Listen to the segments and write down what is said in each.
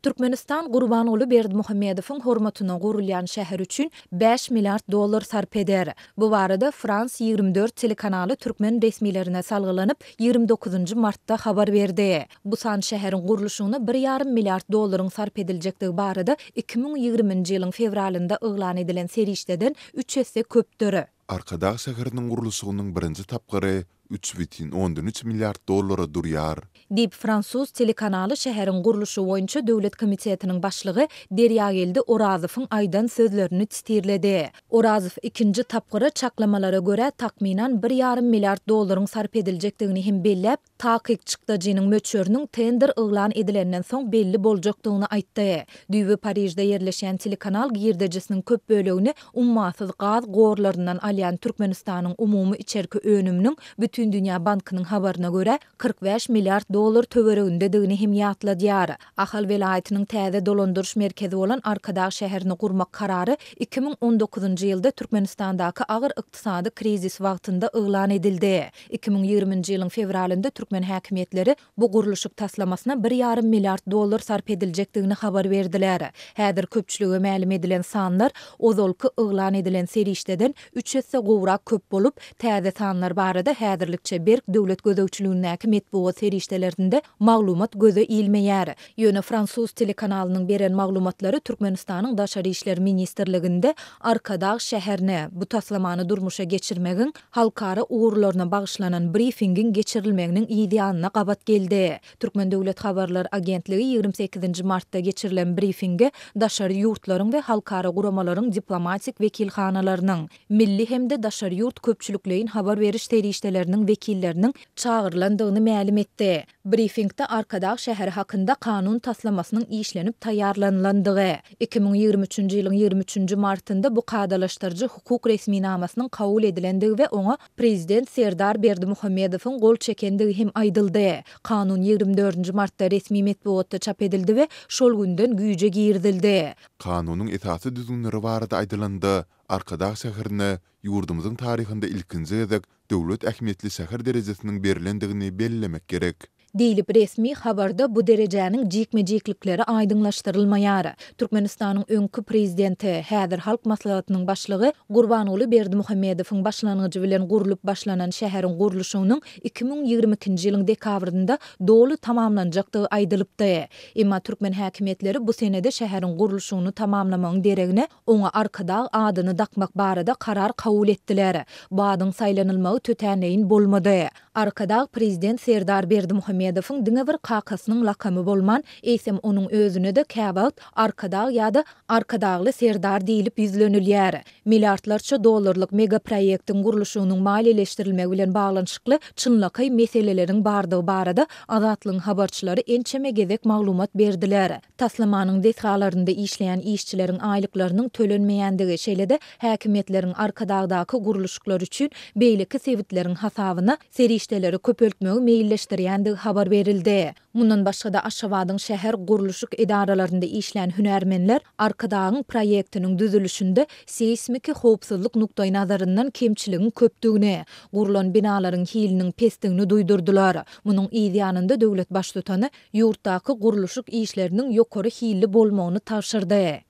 Türkmenistan Gurbanguly Berdimuhamedowyň hormatyna gurulýan şäher üçin bäş milliard dollar sarp eder. Bu barada France ýigrimi dört telekanaly türkmen resmilerine salgylanyp, ýigrimi dokuzynjy martda habar berdi. Bu san şäheriň gurluşygyna bir ýarym milliard dollaryň sarp ediljekdigi barada iki müň ýigriminji ýylyň fewralynda yglan edilen serişdeden üç esse köpdür. Arkadag şäheriniň gurluşygynyň birinji tapgyry üç bütin ondan üç milliard dollara durýar. Diýip, fransuz telekanaly şäheriň gurluşy boýunça döwlet komitetiniň başlygy Derýageldi Orazowyň aýdan sözlerini titirledi. Orazow ikinji tapgyra çaklamalara görä, takmynan bir ýarym milliard dollaryň sarp ediljekdigini hem belläp, Takyk çykdajynyň möçberiniň tender yglan edilenden soň belli boljakdygyny aýtdy. Düýbi Parižde ýerleşýän telekanal girdejisiniň köp bölegini ummasyz gaz gorlaryndan alýan Türkmenistanyň umumy içerki önüminiň Bütindünýä bankynyň habaryna görä, kyrk bäş milliard dollar töweregindedigini hem ýatladýar. Ahal welaýatynyň täze dolandyryş merkezi bolan Arkadag şäherini gurmak karary iki müň on dokuzynjy ýylda Türkmenistandaky agyr ykdysady krizis wagtynda yglan edildi. Iki müň ýigriminji ýylyň fewralynda türkmen häkimiýetleri bu gurluşyk taslamasyna bir ýarym milliard dollar sarp ediljekdigini habar berdiler. Häzir köpçülige mälim edilen sanlar ozalky yglan edilen serişdeden üç esse gowrak köp bolup, täze sanlar barada häzirlikçe berk döwlet gözegçiligindäki metbugat serişdelerinde maglumat göze ilmeýär. Ýöne fransuz telekanalynyň beren maglumatlary Türkmenistanyň Daşary işler ministrliginde Arkadag şäherine bu taslamany durmuşa geçirmegiň halkara ugurlaryna bagyşlanan brifingiň geçirilmeginiň yz ýanyna gabat geldi. Türkmen döwlet habarlar agentligi ýigrimi sekizinji martda geçirilen brifinge daşary ýurtlaryň we halkara guramalaryň diplomatik wekilhanalarynyň, milli hem-de daşary ýurt köpçülikleýin habar beriş serişdeleriniň wekilleriniň çagyrylandygyny mälim etdi. Brifingde Arkadag şäheri hakynda kanun taslamasynyň işlenip taýýarlanylandygy, iki müň ýigrimi üçünji ýylyň ýigrimi üçünji martynda bu kadalaşdyryjy hukuk resminamasynyň kabul edilendigi we oňa Prezident Serdar Berdimuhamedowyň gol çekendigi hem aýdyldy. Kanun ýigrimi dördünji martda resmi metbugatda çap edildi we şol günden güýje girizildi. Kanunyň esasy düzgünleri barada aýdylanda, Arkadag şäherine Ýurdumyzyň taryhynda ilkinji gezek döwlet ähmiýetli şäher derejesiniň berlendigini bellemek gerek. Diýlip, resmi habarda bu derejäniň jikme-jiklikleri aýdyňlaşdyrylmaýar. Türkmenistanyň öňki Prezidenti, häzir Halk Maslahatynyň Başlygy Gurbanguly Berdimuhamedowyň başlangyjy bilen gurlup başlanan şäheriň gurluşygynyň iki müň ýigrimi ikinji ýylyň dekabrynda doly tamamlanjakdygy aýdylypdy. Emma türkmen häkimiýetleri bu senede şäheriň gurluşygyny tamamlamagyň deregine, Oňa Arkadag adyny dakmak barada karar kabul etdiler. Bu adyň saýlanylmagy tötänleýin bolmady. Arkadag prezident Serdar Berdimuhamedowyň diňe bir kakasynyň lakamy bolman, eýsem onuň özüne-de käwagt Arkadag ýa-da Arkadagly Serdar diýlip ýüzlenilýär. Milliardlarça dollarlyk megaproýektiň gurluşygynyň maliýeleşdirilmegi bilen baglanyşykly çynlakaý meseleleriň bardygy barada Azatlygyň habarçylary ençeme gezek maglumat berdiler. Taslamanyň desgalarynda işleýän işçileriň aýlyklarynyň tölenmeýändigi, şeýle-de häkimiýetleriň Arkadagdaky gurluşyklar üçin beýleki sebitleriň hasabyna serişdeleri köpeltmegi meýilleşdirýändigi habar berildi. Mundan başga-da, Aşgabadyň şäher gurluşyk edaralarynda işlän hünärmenler Arkadagyň proýektiniň düzülişinde seýsmiki howpsuzlyk nukdaýnazaryndan kemçiligiň köpdügini, gurlan binalaryň hiliniň pesdigini duýdurdylar. Munuň yz ýanynda döwlet Baştutany ýurtdaky gurluşyk işleriniň ýokary hilli bolmagyny tabşyrdy.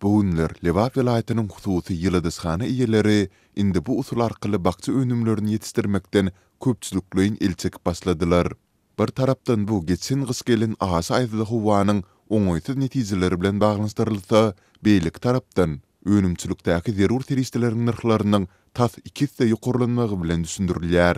Bu günler Lebap welaýatynyň hususy ýyladyşhana eýeleri indi bu usul arkaly bakja önümlerini ýetişdirmekden köpçülikleýin el çekip başladylar. Bir tarapdan bu geçen gyş gelen aşa aýazly howanyň oňaýsyz netijeleri bilen baglanyşdyrylsa, beýleki tarapdan, önümçilikdäki zerur serişdeleriň nyrhlarynyň tas iki esse ýokarlanmagy bilen düşündirilýär.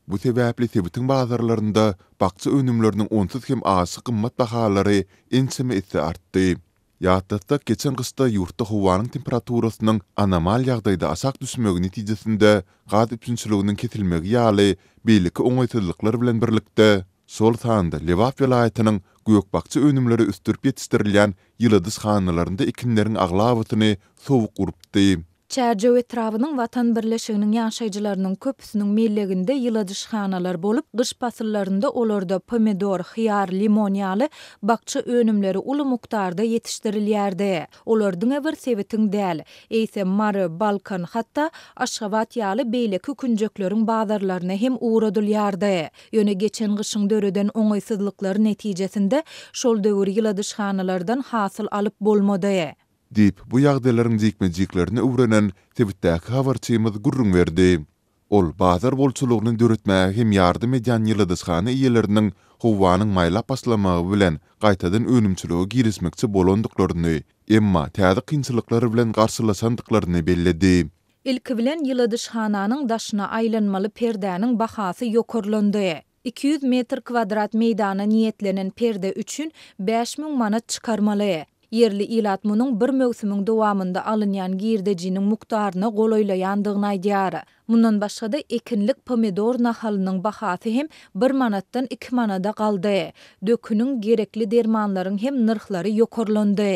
Bu sebäpli sebitiň bazarlarynda bakja önümleriniň onsuz hem aşa gymmat bahalary ençeme esse artdy. Ýatlatsak, geçen gyşda ýurtda howanyň temperaturasynyň anomal ýagdaýda aşak düşmegi netijesinde gaz üpjünçiliginiň kesilmegi ýaly beýleki oňaýsyzlyklar bilen birlikde, şol sanda Lebap welaýatynyň gök-bakja önümleri ösdürip ýetişdirilýän ýyladyşhanalarynda ekinleriň aglabasyny sowuk urupdy. Çärjew etrabynyň Watan birleşiginiň ýaşaýjylarynyň köpüsiniň melleginde ýyladyşhanalar bolup, gyş pasyllarynda olarda pomidor, hyýar, limon ýaly bakja önümleri uly mukdarda ýetişdirilýärdi. Olar diňe bir sebitiň däl, eýsem, Mary, Balkan, hatda Aşgabat ýaly beýleki künjekleriň bazarlaryna hem ugradylýardy. Ýöne geçen gyşyň döreden oňaýsyzlyklary netijesinde şol döwür ýyladyşhanalardan hasyl alyp bolmady. Diýip, bu ýagdaýlaryň jikme-jiklerini öwrenen sebitdäki habarçymyz gürrüň berdi. Ol bazar bolçulygyny döretmäge hem ýardam edýän ýyladyşhana eýeleriniň howanyň maýlap başlamagy bilen gaýtadan önümçilige girişmekçi bolandyklaryny, emma täze kynçylyklar bilen garşylaşandyklaryny belledi. Ilki bilen ýyladyşhananyň daşyna aýlanmaly perdäniň bahasy ýokarlandy. Iki ýüz metr kwadrat meýdana niýetlenen perde üçin bäş müň manat çykarmaly. Ýerli ilat munuň bir möwsümiň dowamynda alynýan girdejiniň mukdaryna golaýlaýandygyny aýdýar. Mundan başga-da, ekinlik pomidor nahalynyň bahasy hem bir manatdan iki manada galdy. Döküniň, gerekli dermanlaryň hem nyrhlary ýokarlandy.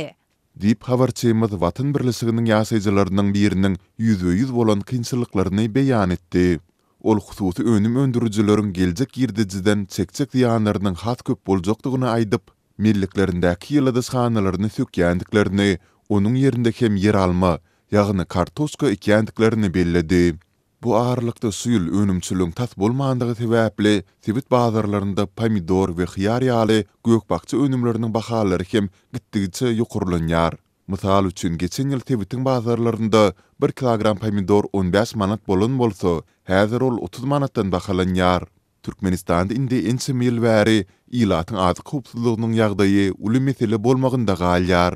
Diýip, habarçymyz Watan birleşiginiň ýaşaýjylarynyň biriniň ýüzbe-ýüz bolan kynçylyklaryny beýan etdi. Ol hususy önüm öndürijileriň geljek girdejiden çekjek zyýanlarynyň has köp boljakdygyny aýdyp, melleklerindäki ýyladyşhanalaryny sökýändiklerini, onuň ýerinde hem ýeralma, ýagny kartoşka ekýändiklerini belledi. Bu aralykda şu ýyl önümçiligiň tas bolmandygy sebäpli, sebit bazarlarynda pomidor we hyýar ýaly gök-bakja önümleriniň bahalary hem gitdigiçe ýokarlanýar. Mysal üçin, geçen ýyl sebitiň bazarlarynda bir kilogram pomidor on bäş manat bolan bolsa, häzir ol otuz manatdan bahalanýar. Türkmenistanda indi ençeme ýyl bäri ilatyň azyk howpsuzlygynyň ýagdaýy uly mesele bolmagynda galýar.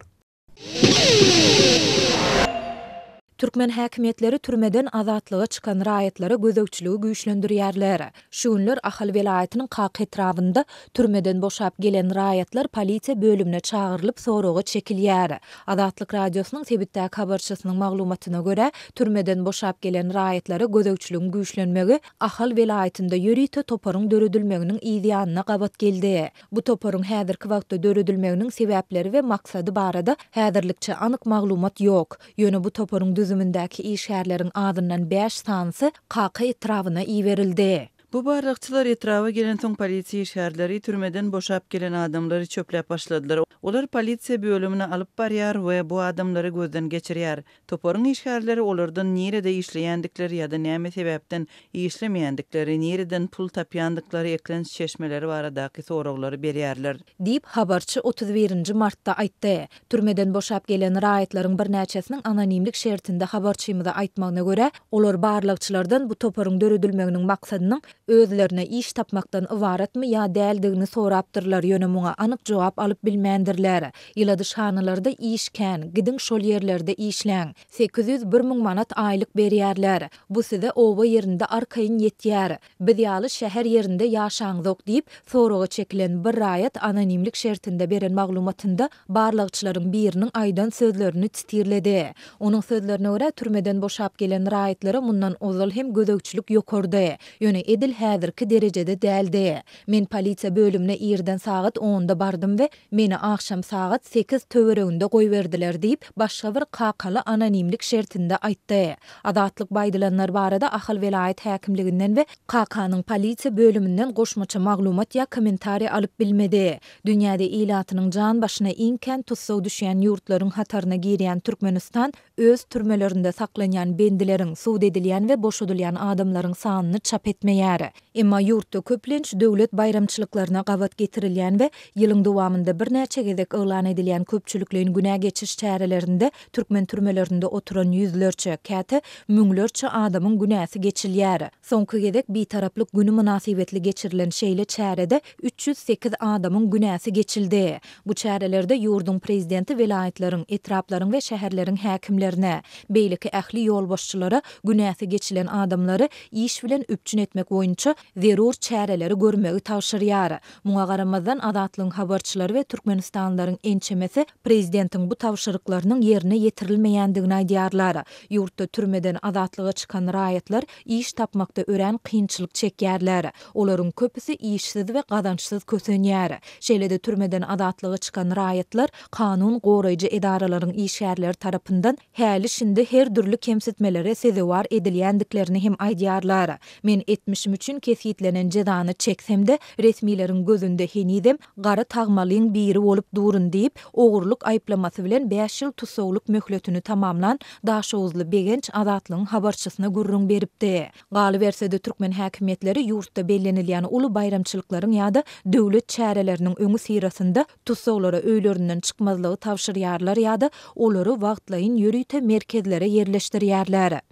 Türkmen häkimiýetleri türmeden azatlyga çykan raýatlara gözegçiligi güýçlendirýärler. Şu günler Ahal welaýatynyň Kak etrabynda türmeden boşap gelen raýatlar polisiýa bölümine çagyrylyp soraga çekilýär. Azatlyk Radiosynyň sebitdäki habarçysynyň maglumatyna görä, türmeden boşap gelen raýatlara gözegçiligiň güýçlenmegi Ahal welaýatynda ýörite toparyň döredilmeginiň yzýanyna gabat geldi. Bu toparyň häzirki wagtda döredilmeginiň sebäpleri we maksady barada häzirlikçe anyk maglumat ýok. Ýöne bu toparyň düzümindäki işgärleriň azyndan bäş sanysy Kaka etrabyna iberildi. Bu barlagçylar etraba gelensoň polisiýa işgärleri türmeden boşap gelen adamlary çöpläp başladylar. Olar polisiýa bölümine alyp barýar we bu adamlary gözden geçirýär. Toparyň işgärleri olardan nirede işleýändikleri ýa-da näme sebäpden işlemeýändikleri, nireden pul tapýandyklary, eklenç çeşmeleri baradaky soraglary berýärler. Diýip, habarçy otuz birinji martda aýtdy. Türmeden boşap gelen raýatlaryň birnäçesiniň anonimlik şertinde habarçymyza aýtmagyna görä, olar barlagçylardan bu toparyň döredilmeginiň maksadynyň özlerine iş tapmakdan ybaratmy ýa däldigini sorapdyrlar, ýöne muňa anyk jogap alyp bilmändirler. Ýyladyşhanalarda iş kän, gidiň şol ýerlerde işläň. Sekiz ýüz bir müň manat aýlyk berýärler. Bu size oba ýerinde arkaýyn ýetýär. Biz ýaly şäher ýerinde ýaşaňzok diýip, soraga çekilen bir raýat anonimlik şertinde beren maglumatynda barlagçylaryň biriniň aýdan sözlerini titirledi. Onuň sözlerine görä, türmeden boşap gelen raýatlara mundan ozal hem gözegçilik ýokardy, ýöne edil häzirki derejede däldi. Men polisiýa bölümine irden sagat onda bardym we Meni agşam sagat sekiz töwereginde goýberdiler diýip, başga bir kakaly anonimlik şertinde aýtdy. Azatlyk baýdylanlar barada Ahal welaýat häkimliginden we KK-nyň polisiýa bölüminden goşmaça maglumat ýa kommentariý alyp bilmedi. Dünýäde ilatynyň jan başyna iň kän tussag düşýän ýurtlaryň hataryna girýän Türkmenistan öz türmelerinde saklanýan bendileriň, sud edilýän we boşadylýan adamlaryň sanyny çap etmeýär. Emma ýurtda köplenç döwlet baýramçylyklaryna gabat getirilýän we ýylyň dowamynda birnäçe gezek yglan edilýän köpçülikleýin günä geçiş çärelerinde türkmen türmelerinde oturan ýüzlerçe, käte müňlerçe adamyň günäsi geçilýär. Soňky gezek Bitaraplyk güni mynasybetli geçirilen şeýle çärede üç ýüz sekiz adamyň günäsi geçildi. Bu çärelerde ýurduň Prezidenti welaýatlaryň, etraplaryň we şäherleriň häkimlerine, beýleki ähli ýolbaşçylara günäsi geçilen adamlary iş bilen üpjün etmek boýunça zerur çäreleri görmegi tabşyrýar. Muňa garamazdan, Azatlygyň habarçylary we türkmenistanlylaryň ençemesi Prezidentiň bu tabşyryklarynyň ýerine ýetirilmeýändigini aýdýarlar. Ýurtda türmeden azatlyga çykan raýatlar iş tapmakda örän kynçylyk çekýärler. Olaryň köpüsi işsiz we gazançsyz kösenýär. Şeýle-de türmeden azatlyga çykan raýatlar kanun goraýjy edaralaryň işgärleri tarapyndan häli-şindi her dürli kemsitmelere sezewar edilýändiklerini hem aýdýarlar. Men etmişim üçin kesgitlenen jezany çeksem-de, resmileriň gözünde henizem Gara tagmalyň biri bolup durun diýip, ogurlyk aýyplamasy bilen bäş ýyl tussaglyk möhletini tamamlan daşoguzly Begenç Azatlygyň habarçysyna gürrüň beripdi. Galyberse-de türkmen häkimiýetleri ýurtda bellenilýän uly baýramçylyklaryň ýa-da döwlet çäreleriniň öňüsyrasynda tussaglara öýlerinden çykmazlygy tabşyrýarlar ýa-da olary wagtlaýyn ýörite merkezlere ýerleşdirýärler.